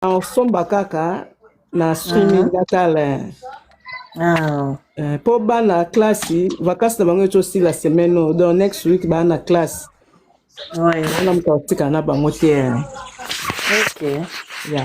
osomba kaka na streaming Mhm. atala Ah. Eh, po bana classe vacances na bango etosila semaine oyo donc next week baa na classe Ouais. wana moto akotikala na bango te eh. Ok. ya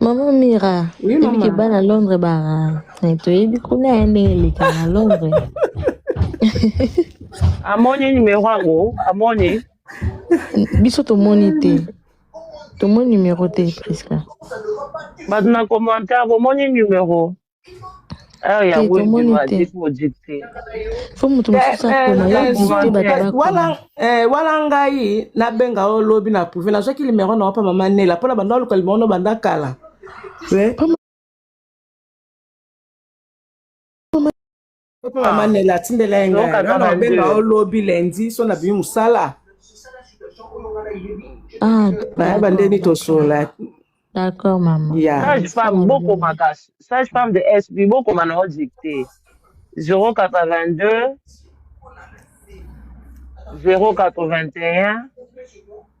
Maman Mira, oui, maman. que bana Londres bara. Et tu es du coup là, elle est à Londres. Amoni numéro yango, amoni. Biso tomoni te. Tomoni numéro te, Prisca. Bato na commentaire, bomoni numéro. heure ya Te, tomoni wenge te. aziki odikte fo moto Eh, mosusu eh, akoma ya eh, dikte Zuzu, bato eh, bakoma wala eh, wala ngai nabenga yo lobi na prouve nazwaki limero na yo mpa mama nela mpo na banda oluka limero na banda kala Eh, mama nela atindela ye ngai wana nabenga yo lobi lendi so na bimi mosala ah, nayeba ndeni tosola D'accord, maman. Yeah. Sage-femme, beaucoup ma cache. Sage-femme de SB, beaucoup ma non dicté. 082 081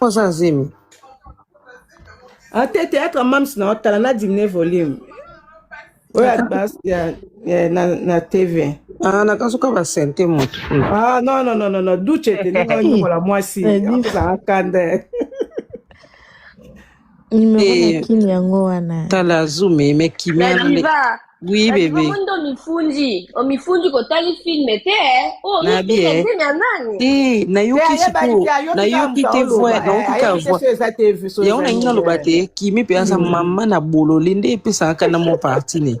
Oza zemi. Ate théâtre ya Mams na otala na diminue volume. Oyo ya bas ya ya- na na TV. Ah, nakasuka ba sente moto. Ah non non non non non Duce te ndenge onyokola mwasi. Eh, Yango ezalaka kanda. Numero na Eh, kin yango wana. tala azumi me kimia na nde diva oui na diva bebe omoni nde omifundi omifundi kotali filme te oyo na omifundi bie nzemi ya nani te te nayoki ayebaki sikoyo te ayoki kaka nayoki moto te aoloba voix eh, nayoki kaka ayebi te voix so eza te so yango eza nalingi nini naloba te eh. kimi mpe aza mama na bolole nde epesaka kanda mo parti ne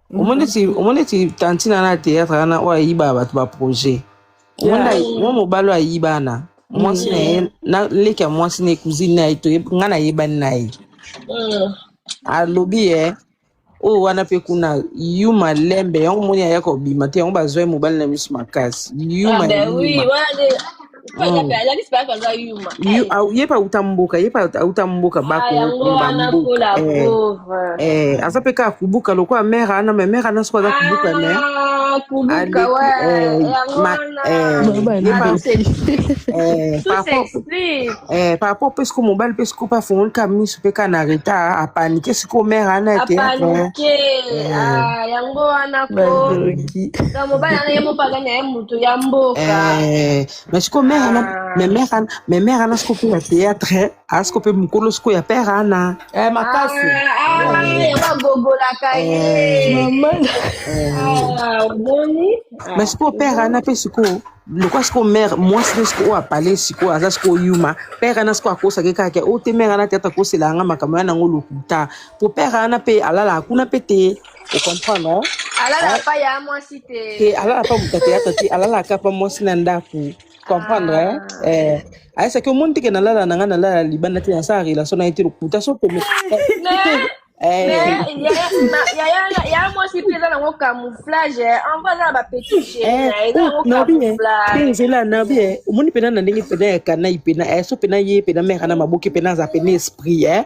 omoni ti omoni ti tantina na théâtre wana oyo ayiba bato ba projet omoni mwa mobali oyo ayiba na mwasi na ye na leki ya mwasi na ye cousine na ye to nga nayebani na ye alobi ye oyo wana mpe kuna yuma lembe yango omoni aya kobima te yango bazwa ye mobali na miso makasi yuma yuma Mm. Yu- au- ye pa uta mboka ye pa uta mboka bakokumba mboka Eh, eh, aza mpe kaka kubuka lokola mare ana me mare ana soko aza kubuka me aleki eh, ma eh, ye pa eh, par rapport eh, par rapport mpe siko mobali mpe siko mpe afongoli kaka miso mpe kaka na retard apanike siko mare ana ya théâtre eh, eh, badoki moto ya mboka eh, me siko mère ana ah. me mère ana me mère ana siko mpe ya théâtre aza siko mpe mokolo siko ya père ana eh, makasi bagogolaka omoni me siko père ana mpe sikoyo lokola sikoyo mare mwasi nde sikoyo oyo apale sikoyo aza sikoyo yuma pere ana sikoyo akosaki kaka o te mare ana te ata akosela yanga makambo ya nango lokuta po pere ana mpe alalaka kuna mpe te okomprendre hein? alala pa ya mwasi te te alala pa moto ateyata te alalaka pa mwasi na ndako comprendre hein? Ah. eh, ayesaki omoni teke nalala na ngai nalala libanda te nasala relation na ye te lokuta so peme Eh. yaya mwasi mpe eza nango camouflage ango aza na bapetit génenzela na bie omoni mpena na ndenge mpena ya kanai mpena eh, so mpena ye mpena mera na maboki mpena aza mpena esprit eh.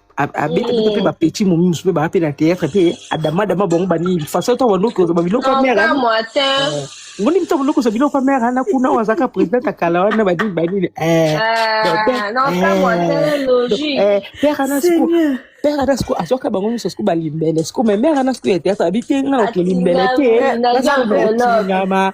abeta bino mpe bapetit momi mosusu mpe baa mpe na théâtre mpe adama adama bango banini façon to bandoki ozoba biloko ya mère ngoni mito biloko ozo biloko ya mère ana kuna wazaka président ya kala wana banini banini père ana siko père ana siko azwaka bango nyonso siko balimbele siko me mère ana siko ya théâtre abi te nga nakelimbele te nazaa notingama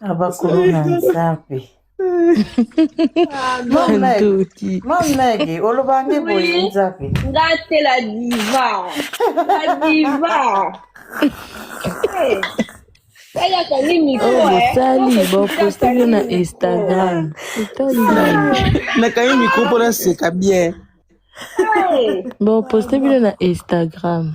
abakuluna nzambe ndoki mamnege olobange boye nzambe nga te la diva la diva tayaka nini bosali boposte yo na instagram nakangi mikro mpo naseka bien boposte bino na instagram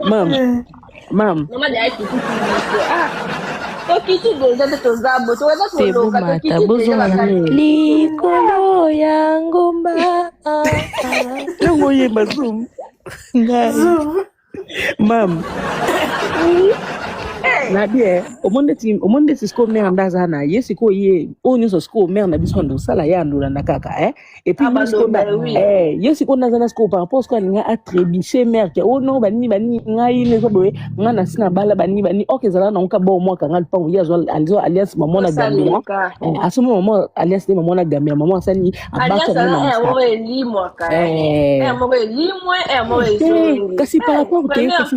mama eh. mama tebomata bozonga likolo ya ngomba ntango oyemba zum ngai mam na bien omoni nde sikoyo mare nde aza na ye sikoyo ye oyo nyonso sikoyo mare na biso ande osala ye andolanda kaka eh? Et puis, ah, sikoyo na eh ye sikoyo naza na sikoyo par rapport sikoyo alinga atrebiche mère ke oh non banini banini ngai neza boye ngai nasi na bala banini banini ok ezala nango ka bao mwaka ngai lupango ye azwa azwa alliance mama na gambia eh, asomba mama alliance nde mama na gambia mama asali abaka na eh. eh, kasi par rapport te kasi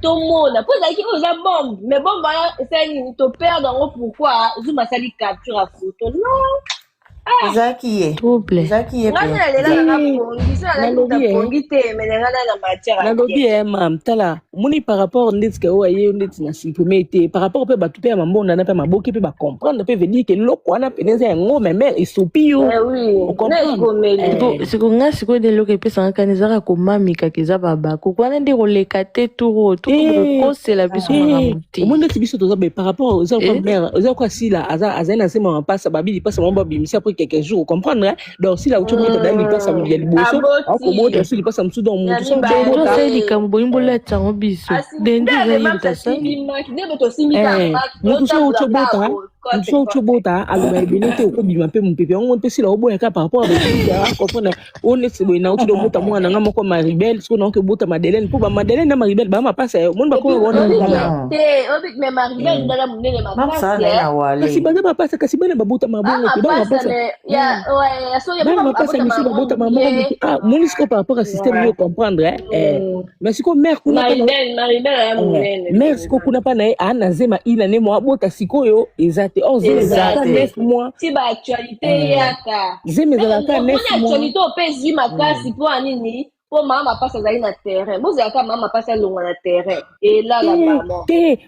tomona mpo ezalaki oyo eza bombe mais bombe wana esali nini toperde yango pourquoi zuma asali capture ya foto non ah! ezalaki ye ezalaki ye ngai nalela nanga pongi so nalaki na pongi te mais nanga na na matière nalobi ye eh, mam tala omoni par rapport ndeti ke oyo aye ndeti na supprime te par rapport mpe bato mpe ya mambonda na mpe maboki mpe bacomprendre mpe vedire ke eloko wana mpene eza yango memere esopi yo eh okomprendre siko nga sikoyo nde eloko epesanga kani ezaka komamika keza babaku wana nde koleka te turo tokokosela biso makambo te omoni ndeti biso toza be par rapport oza kwa mère oza kwa sila aza azali na nsema mapasa babi lipasa mwa babimisi apres quelques jours comprendre donc sila uti omoni tadali lipasa ya liboso akomota so lipasa mosusu donc motu sosali likambo boyi bolata yango biso dendi ezali lipasa motu so uti obota so oki obota aloba ebele te okobima mpe mopepe yango mpe sila oboya kaka par rapport ya bopepe ya comprendre oyo neti boye nauti dobota mwana nga moko maribel sikoyo naoki obota madeleine mpo bamadeleine na maribel baa mapasa ya omoni bakoma wana kasi baza mapasa kasi bana babotama bongo te bana mapasa bana mapasa misi babotama bongo te ah moni sikoyo par rapport ya système yo comprendre eh mais sikoyo mare kuna mare sikoyo kuna mpa na ye aa na zema ina ne mwa abota sikoyo eza te or zema ezalaka neuf mois ti baactualité eyaka zema ezalaka neuf moisactualité ope ezwi makasi mpo ya nini mpo mama mapasi azali na terrain bozalaka mama mapasi alongwa na terrain elala mama te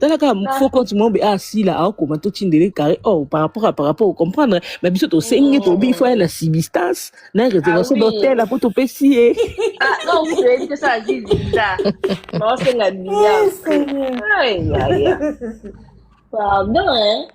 tala kaka ah. faux compte moko boye asila ah, akoma totindele carré or oh, par rapport à par rapport au comprendre ma biso tosengi tobi il faut aya na substance na réservation d'hôtel apo topesi ye pardon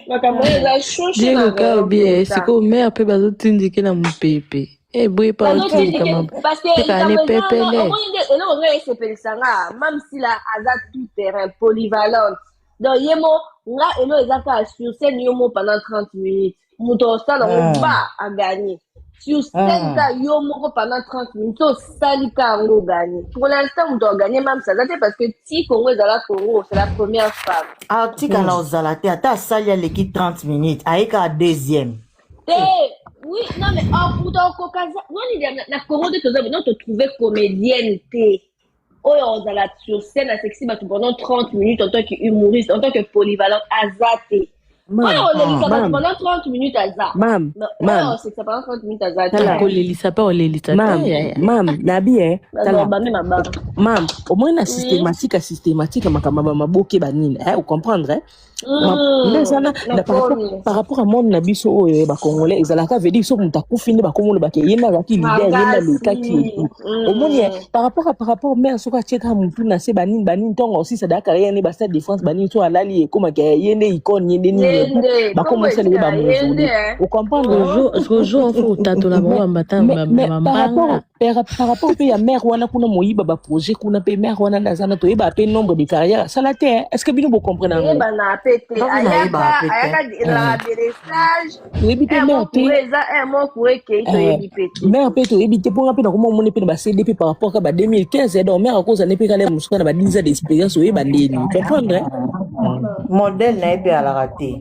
makambo eza shoshe na sikoyo mare mpe bazotindike na mopepe eboyi pa otika mabe tika ni pepele omoni nde eloko ngai esepelisa nga mam sila aza tout terrain polyvalente donc ye mo nga elo eza kaka sur scène yo mo pendant 30 minutes moto osala ngo Ah. ba aganye sur scène Ah. ka yo moko pendant 30 minutes osali ka yango oganye pour l'instant moto aganye mam sila aza te parce que ti congo ezala congo c'est la première femme atikala ozala te ata asali aleki 30 minutes ayekaka deuxième te oui non mais okuta okokaza nani na congo nde toza non totrouve comédienne te oyo ozala sur scène asekisi bato pendant 30 minutes en tant que humoriste en tant que polyvalente aza te oyo olelisa bato pendant 30 minutes aza oyo osekisa pendant 30 minutes aza te kolelisa mpe olelisa mam nabi e mam omoni na systématique ya systématique makambo ya bamaboke banini eh, ocomprendre nde eza par rapport à monde na biso oyo ya bacongolais ezalaka vedi soki moto akufi nde bakomolobaka ye nde azalaki lide ye nde alekaki etu omoni par rapport à par rapport mare soki atiekaka motu na se banini banini ntongo osisa dayaka ye nde bastade de france banini so alali ekomaka ye nde icone ye nde nini etu bakomasala ye bamozoli ocomprendre rojo mfo otatola bango bambata bambanga par rapport mpe ya mare wana kuna moyiba baprojet kuna mpe mare wana nde aza na toyeba mpe nombre de carrière asala te est ce que bino bocomprena yango eyebana mpe te Ndoki ayaka nayeba mpe te. ayaka de- na Eh. aberesage toyebi mpe mare moko te kure eza un mot kure ekei toyebi mpe te mare mpe toyebi te mpo nga mpe nakoma omoni mpe na bacd mpe par rapport ka ba 2015 eh, donc mare akozala nde mpe kala mosusu kaka na ba 10 ans d'expérience oyeba ndeni comprendre eh? modele na ye mpe alaka te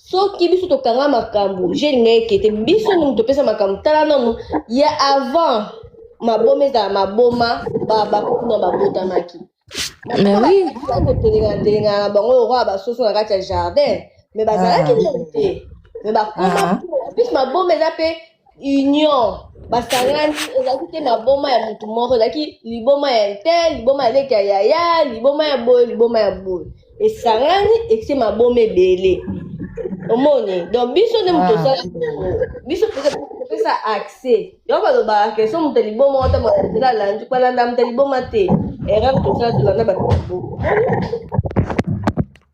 soki biso tokanga makambo je elinga eke te biso nini topesa makambo tala nanu ya avant maboma ezala maboma bakokuna babotamaki kotelengatelenga na bango lokola basoso na kati ya jardin me bazalaki ah. nini te me bakoma ah. plus maboma eza mpe union basangani ezalaki te maboma ya motu moko ezalaki liboma ya te liboma ya leki ya yaya liboma ya boye liboma ya boye esangani ese maboma ebele omoni donc biso nde moto osala ah. biso kopesa accès yango balobaka ke so moto liboma ota motola alandi balanda moto liboma te erreur tosala tolanda bato liboma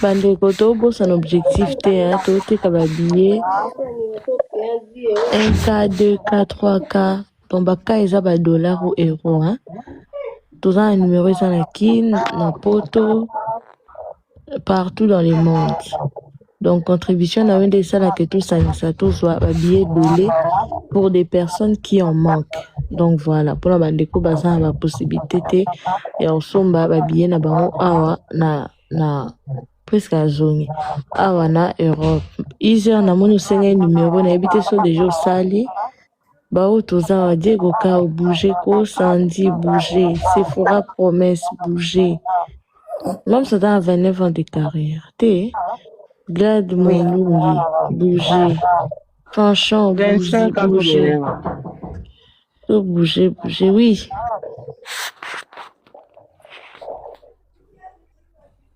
Ba ndeko to bosana objectif te hein, to teka ba billets 1K, 2K, 3K. Donc ba K eza ba dollars ou euros hein. Toza na numéro eza na Kin, na Poto, partout dans le monde. Donc contribution na yo nde esala que tosangisa tozwa ba billets ebele pour des personnes qui en manquent. Donc voilà, mpona bandeko baza na ba possibilité te ya kosomba ba billets na bango awa na na presque azongi awa na Europe. Izer namoni osengai numero nayebi te so deja osali Bao toza wa Diego Kao bouger ko Sandy bouger Sephora promesse bouger Mom ça dans 29 ans de carrière te Glad Oui. Moulungi bouger Fanchon bouger 25 ans bouger kolelema. to bouger bouger oui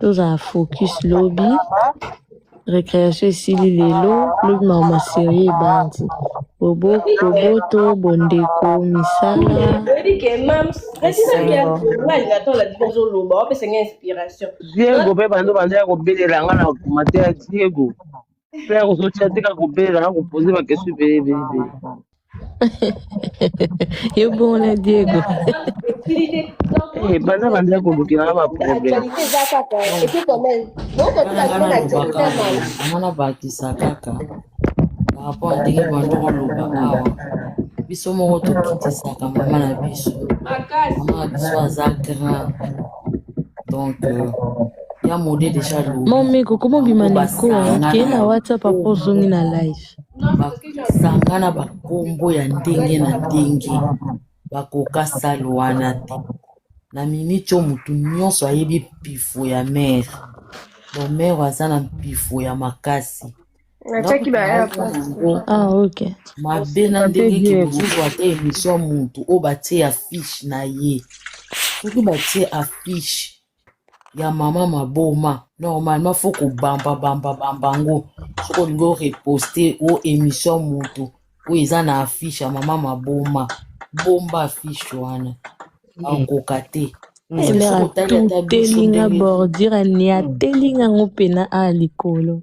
tozala focus lobi recreation esili lelo lobi mawa maserie ebandi bobo boboto bondeko misala oyebi ke mams natinaki ya nga alinga to alandi ozoloba opesa nga inspiration diego mpe bando banda ya kobelela nga na komatea diego Mpe akozotia tika kobela akopoze bakesi ebele ebele ebele. Yo bongo na Diego. Eh, bana banda kolukela na baproblème Actualité eza kaka et puis quand même bokotika bino na actualité ya mawa yango nabakisa kaka par rapport ya ndenge bando koloba awa biso moko tokitisaka mama na biso mama na biso aza grand donc euh, ya mode deja alobi Mome koko mobima na eko basangana kei na na WhatsApp apres kombo ozongi na live. basanga na bakombo ya ndenge na ndenge bakoka sale wana te na miniti oyo motu nyonso ayebi mpifo ya mere bomere aza na mpifo ya makasi natiaki ba airport yango Ah ok. mabe na ndenge Mabe bien. kibozuzu ata emission ya motu oyo batie affiche na ye soki batie affiche ya mama maboma normalement faut kobamba bamba bamba yango soki olingi oreposte o émission moto oyo eza na affiche ya mama maboma bomba affiche wana akoka te elera totelinga bordure aniatelinga yango mpena a likolo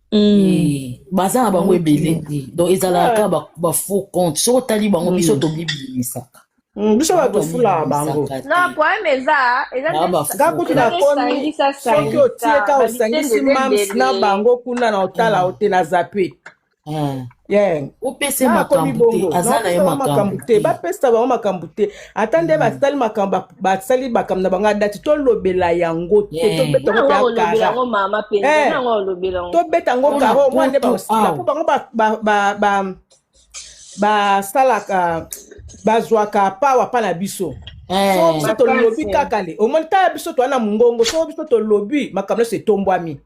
baza na bango ebele donc ezalaka kaka bafaux compte soki otali bango biso tobibimisaka Mm, biso bato tofulaka bango non problème eza eza kutu nakomi soki otie ka osangisi mams na bango kuna na otala ote na zape opesa makambo te aza na ye makambo te bapesa bango makambo te ata nde mm. basali makambo basali makambo na bango ya dati tolobela yango te tobeta yango karo mwa nde bakosila mpo bango basalaka bazwaka pawa mpa na biso eh. biso tolobi kaka le omoni tala biso toa na mongongo soko biso tolobi makambo nyonso etombwami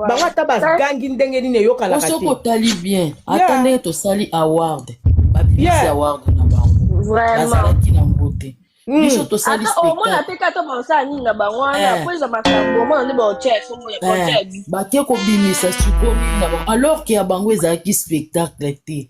bango ata bagangi ndenge nini eyokanaka soki otali bien ata ndenge tosali award babimisi award na bango bazalaki na mbote hmm. biso tosali omona te kata baosala nini na bango wana eh. po eza makambo omona nde baotya eh. bake kobimisa sikoyo nini na bango alors ke ya bango ezalaki spectacle te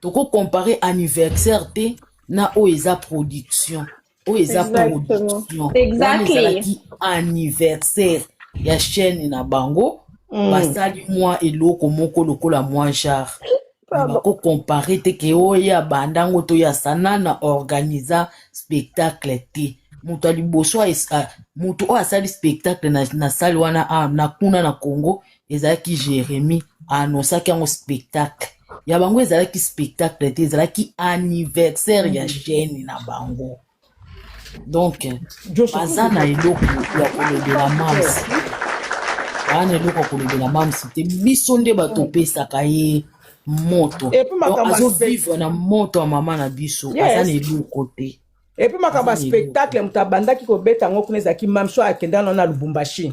toko comparer anniversaire te na oyo eza production oyo eza production wana ezalaki anniversaire ya chaîne na bango mm. basali mwa eloko moko lokola mwa genre bako compare te ke oyo abanda yango to ya sanana organisa spectacle te moto ya liboso moto oyo asali spectacle na, na sale wana a, na kuna na congo ezalaki Jeremie annoncaki yango spectacle ya bango ezalaki spectacle te ezalaki anniversaire ya chaîne na bango donc baza na eloko ya kolobela mams baa na eloko ya kolobela mams te biso nde bato opesaka ye moto azovivre na moto ya mama na biso aza na eloko te epuis makambo ya spectacle moto abandaki kobeta yango kuna ezalaki mamso akendana na lubumbashi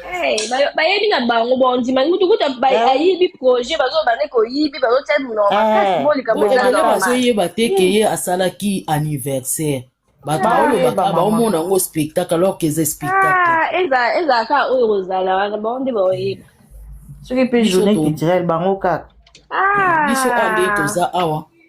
Hey, ba- bayebi na bango bondima mutu kuta ba- Eh. ayibi projet bazobande koyibi bazotia monoko makasi Eh. bolika Bo- boza ebele normal bazoyeba te ke ye asalaki anniversaire bato Baoyeba, baolobaka mama. baomona yango spectacle alors que eza spectacle Ah, eza eza kaka oyo kozala wana bango nde baoyeba soki mpe Biso journée to- culturelle bango kaka Ah. biso awa nde toza awa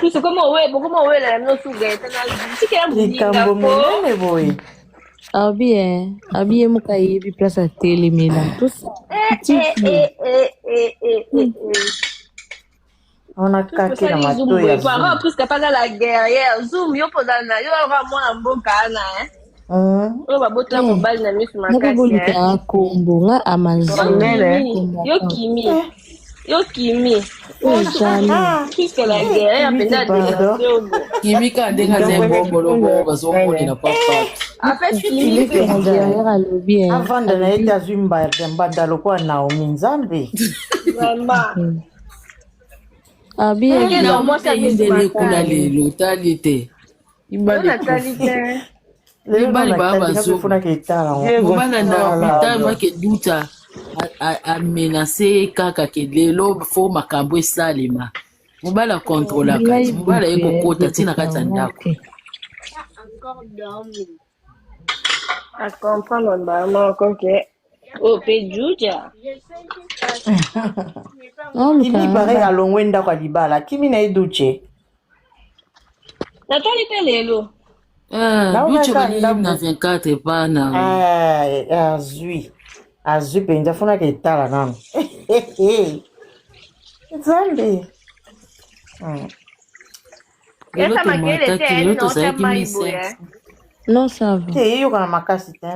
pusu koma owe bokoma owela ya bino suga etanasika ya likambo monene boye abi e abi ye moka yebi place atelemela tosa wana kaki na matoya puiske apaza la guerrière zoom yo mpozala na yo aa mwana mboka ana oyo baboti na mobali na misu makasibolukaka kombo nga amazonyo kimi yo kimi kimi ka ndenge aza ebongoloko bazomonela papa avanda na ye te azwi mbada mbada lokola naomi nzambe abiyekuna lelo tali te Mibali Ona tali ekufi. te. Mibali baa bazo. Nafunaka etala ngo. Diego. Obana na Voilà. hopital mwa ke duta a- a- amenace ye kaka ke lelo fo makambo esalema. Mobali akontrolaka te. Mobali aye kokota ti na kati ya ndako. Na comprendre mbala moko ke ope juja. Oluka Kimi pare nanga. alongwe ndako ya libala. Kimi na ye Duce. Natali mpe lelo. Eh, Nao Duce kaka bani ndambo. na 24 pa na Ah, eh, azwi. Azwi mpenza fonaka etala nano. Nzambe. Hmm. lelo tomwataki lelo tozalaki mesa non ça va te eyokana makasi te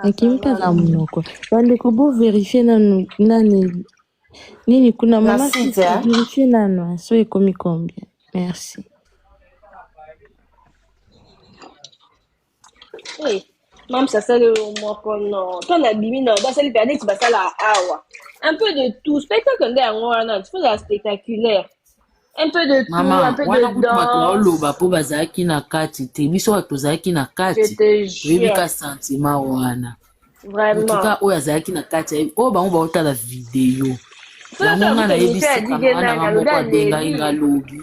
nakimi mpe aza monoko bandeko bo verifie nanu nani nini kuna mama verifie nanu so ekomi combien merci Hey, mams asali yo moko no to na bimi no basali mpe neti basala awa un peu de tout spectacle nde yango wana il faut la spectaculaire un peu de tout mama un peu wana de kutu bato danse baoloba mpo bazalaki na kati te biso bato tozalaki na je kati te toyebi jure ka santima wana vraiment motuka oyo azalaki na kati ayebi oyo bango baotala video soki yango ngai toyambi comité ya nayebisi dige kamana nani nga alobi moko abengaki aleli nga lobi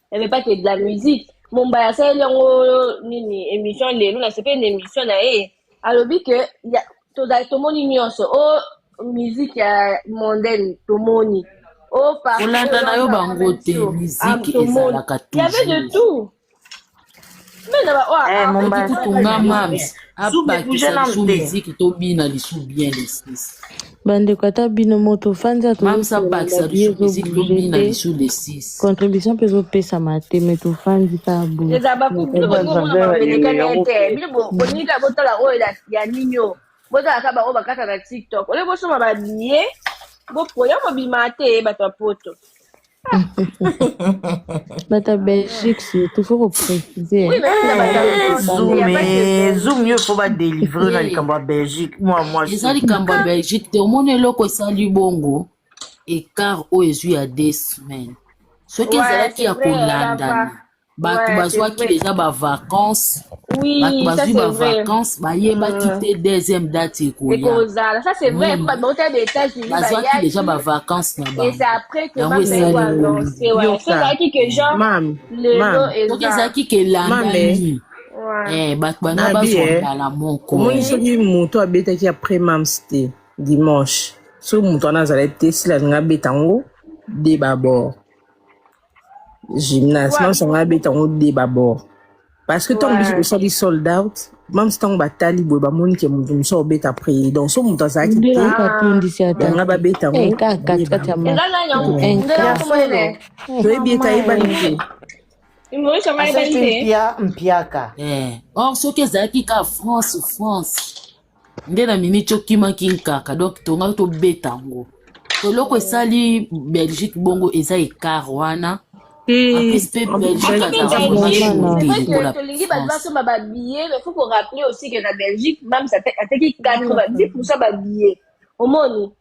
elle veut pas que de la musique mombaya asaleli yango nini émission lelo nasepeli na émission na ye alobi ke tozali tomoni nyonso o oh, musique ya mondaine tomoni oh, olanda na yo bango te musique ah, ezalaka toujours Eh, mombasi tunga mams abakisa lisu miziki tobina lisu bien lesis bandeko ata bino moto ofandi mams abakisa lisu miziki tobina lisu lesis contribution mpe ezopesama te me tofandi ka boyeboningaka botala oyo ya nini o botalaka baoyo bakata na tiktok oye bosoma babiye bopoya mobima te bato ya poto Bata Belgique surtout faut ko préciser. Oui, mais ça va dans Zoom, Il y a pas mais de Zoom yo faut ba délivrer na likambo ya Belgique. Moi moi. eza likambo ya belgique te omoni eloko esali bongo écart oyo ezwi ya deux semaine soki Ouais, ezalaki c'est ya vrai, on a pas. kolandana bato Ouais, c'est bazwaki vrai. deja bavacance bato Oui, ça bazwi c'est vrai. bavacance bayebaki Mm. te deuxième date ekoya Ekozala, ça c'est vrai. Mm. Pas de hôtel des États-Unis, bah, bazwaki yaki. deja bavacance na Et bango c'est après que yango Mame esali Ego a nini annoncé. Ouais, Yoka. c'est vrai que genre, Mam, le mam, lot est soki là. ezalaki Mame. kelandani Ouais. eh, bato bana Nabi, bazwa eh. mbala moko omoni eh. soki moto abetaki après mams te dimanche soki moto wana azalaki te sila alingi abeta yango de babord gymnase mamsa ngai abeta yango de babord parce que ntango biso tosali sold out mamsa ntango batali boye bamoni ke moto mosu aobeta prix donc so moto azalaki te yanga babeta yango toyebi ete ayebani te mpiaka or soki ezalaki ka france france nde na miniti okimaki nkaka donc tongaki tobeta yango eloko esali belgique bongo eza ekart wana tolingi bato basomba babillet mais faut korappele aussi ke na belgique mams ateki 90 pourcent babillet omoni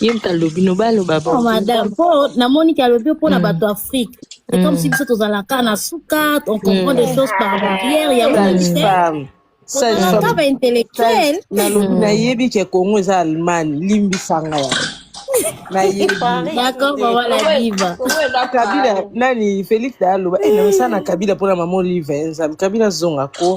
ye moto alobi no baloba Oh, madame, po namoni ki alobi mpo na bato Afrique. C'est comme si biso tozalaka na suka, on comprend des choses par barrière, yango na Sage biso femme. Sage tozalaka femme. ba intellectuel. nalobi nayebi ke congo eza allemagne limbisa nga ya nayebi D'accord, bah voilà, diva. kabila nani felix da aloba e namesana na kabila mpona mama olive nzambe kabila zonga ko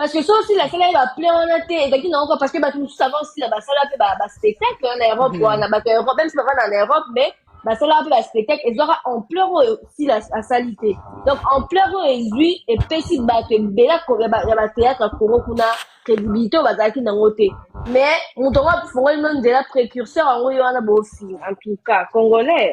parce que soki sila asalaki baplein wana te ezalaki nango kaka parce que bato mosusu avant sila basala mpe baspectacle wana na europe wana bato ya europe même si bavanda na europe mais basalaka mpe baspectacle ezwaka ampleur oyo sila asali te donc ampleur oyo ezwi epesi bato ebele ya batheatre ya congo kuna crédibilité oyo bazalaki nango te mais moto yango afongoli no nzela précurseur yango ye wana bofinga en tout cas congolais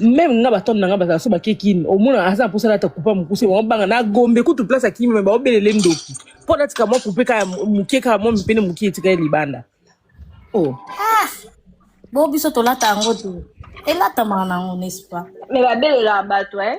meme nga batone na nga bazala so bake kin omona aza na mposa nata kupa mokuse bango banga na gombe kutu place akimi me baobelele ndoki mpo natika mwa kupe kaka moke kaka mwa mipene moke etika ye libanda oh. ah, bo biso tolata yango te elatamaka na yango nespa me babelelaka bato eh?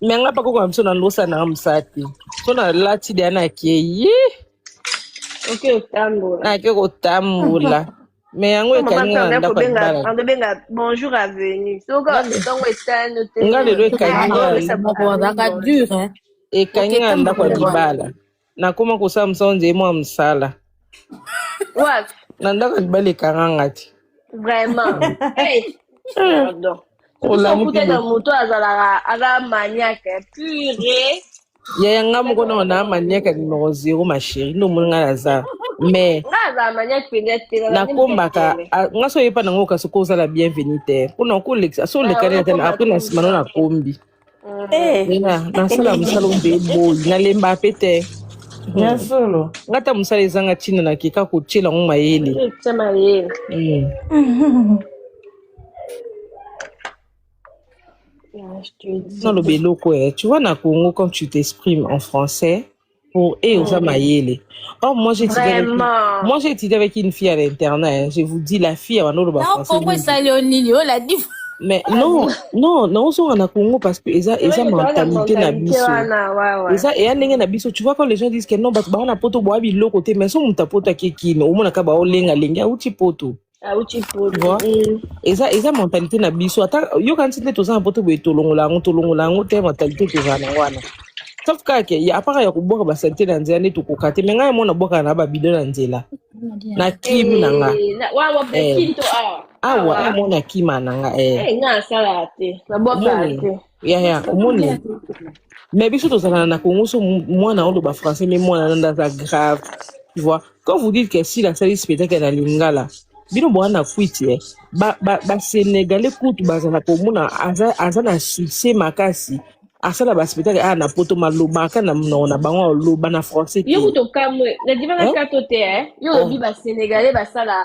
me nga bakoko na biso na losa na nga mosala te so nalati deya nakei nake kotambola me yango ekangi nga na ndako ya libala nga lelo ekangi nga ekangi nga na ndako ya libala nakoma kosala mosala nzeye mwa mosala wapi na ndako ya libala ekanganga te vraiment hey, pardon biso olamuki kuta na boye moto azalaka aza maniake pure yaya nga moko nao na maniaka numero zero ma chérie nde omoni ngai naza mais nga azala maniake mpenza te nazali nakombaka mokekele a- nga so oyepa nango kasi ko ozala bienvenu te mpona kolekisa so olekani ata apres na nsima no nakombi Eh, Nina, nasala mosala ombe boyi nalemba mpe te ya solo nga ata mosala ezanga ntina na keka kotyela yango mayele Tia mayele. Mm. Ah, je te dis. naloba eloko eh. tu vois na congo quand tu t'exprimes en français Pour et aux Amayele. Oh, moi j'ai étudié, avec, Vraiment. moi j'ai étudié avec une fille à l'internat. hein. Je vous dis, la fille, elle va Non, pourquoi français. ça, Léon Nini Oh, la diff. Mais non, non, non, on en a Congo parce que eza, C'est vrai eza que toza na mentalité na mentalité biso. wana ouais ouais. Eza, et ndenge na biso, tu vois quand les gens disent que non, bato bawana poto boa biloko te, mais so muta poto ake kino, omona ka bao lenga lenga, auti poto. auti ah, poto Bon. Mm. eza eza mentalité na biso ata yokanisi nde toza na poto boye tolongola yango tolongola yango te mentalité tozala na yango wana sauf kaka ke ya apaka ya kobwaka basalite na nzela nde tokoka te me ngai yango nabwakaka na babido na nzela na kimi na nga Eh, na- wa- wa- Eh. kinto awa awa awa yango na kima na nga eh. Eh, nga asalaka te nabwakaka Nini? te ya ya omoni mais biso tozalana na congo so mu- mwana oloba français mais mwana nanda aza grave tu vois quand vous dites que sila asali spectacle na lingala bino boa na kwiti eh. ba, ba, ba sénégalais kutu bazala komona aza, aza na succès makasi asala ba spectacle aya na poto malobaka na monoko na bango aloba na français yo te kutu okamwe nadima na eh? kato te eh? yo olobi oh. basenegalais basala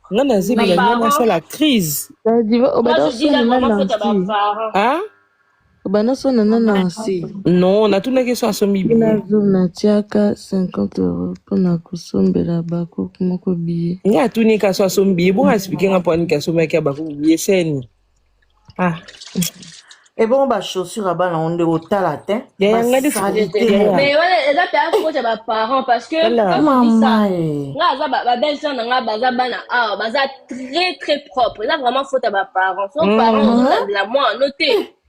nga na zebi na nga nasala crise obanda sona na nansi non natunaki so asombi bina zoom natiaka 50 euro mpona kosombela bakoko moko biye nga atuni ka so asombi biye bongo asipike nga mpo aniki asombaki ya bakoko biye seni ah. ebongo eh bachaussure ya bana ngo nde otala te eza mpe akota baparent parce que nga aza babelle sœur na nga baza bana awa baza très très propre eza vraiment faute ya baparent so parent ozozabela mwana no te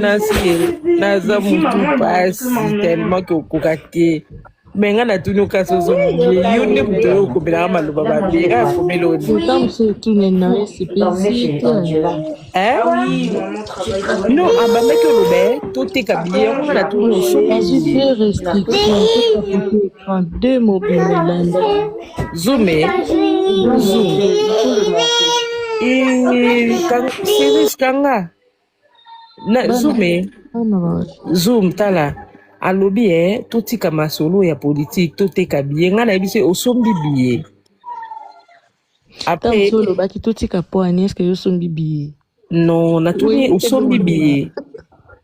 nasi naza mutu pasi tellement ke okoka te me nga natuni okasi ozomie yo nde moto oyo okobelaka maloba mabe nga akomeli no abamaki oloba ye toteka biye yango nga natuni osoki Zoomé. Zoom. Et Cyrus Kanga. Na, zoomé. Zoom, tala. alobi e totika masolo ya politike toteka biye ngai nayebi se osombi biye apres olobaki totika po ani eske yo osombi biye Non, natuni Oui, osombi ebongo biye. nini?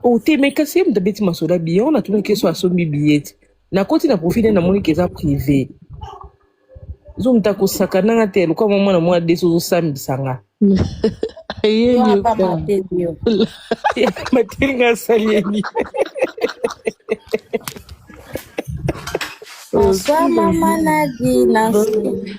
Oh te, mais kasi yemda beti masoda biye, on atuni keso asombi biye te. Nakoti na profil namoni ke eza privé. Zomta kosakana nga te, lokola mwa mwana mwa desi ozosambisa nga. Aye Yo ata nyoka. mateli yo. Mateli nga asali ye nini? Oyo Bonsoir si maman Nadi, Nancy.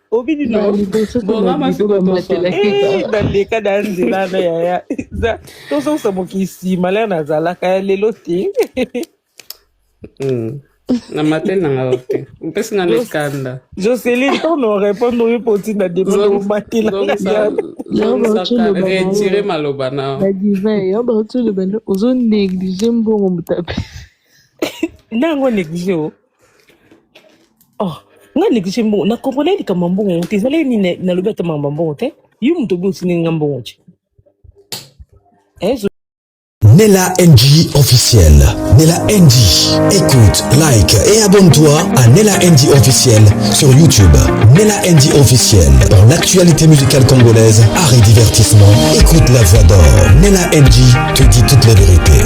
obini no bongama sikobaleka na nzela na yaya tozongisa mokisi malere nazalaka ya lelo te hmm. na matel na nga te mpesi nga mikanda jocelyn tono répondre oyo mpo ntina demomatelaretire maloba na ozo néglige mbongo motape nango néglige o Oh, nga négligé mbongo. Na comprenais likambo ya mbongo te. Ezali nini na- nalobi ata makambo ya mbongo te. Yo moto obi otindi nga mbongo te. Eh, zo- Nella NG officiel. Nella NG. Écoute, like et abonne-toi à Nella NG officiel sur YouTube. Nella NG officiel. Pour l'actualité musicale congolaise, art et divertissement, écoute la voix d'or. Nella NG te dit toute la vérité.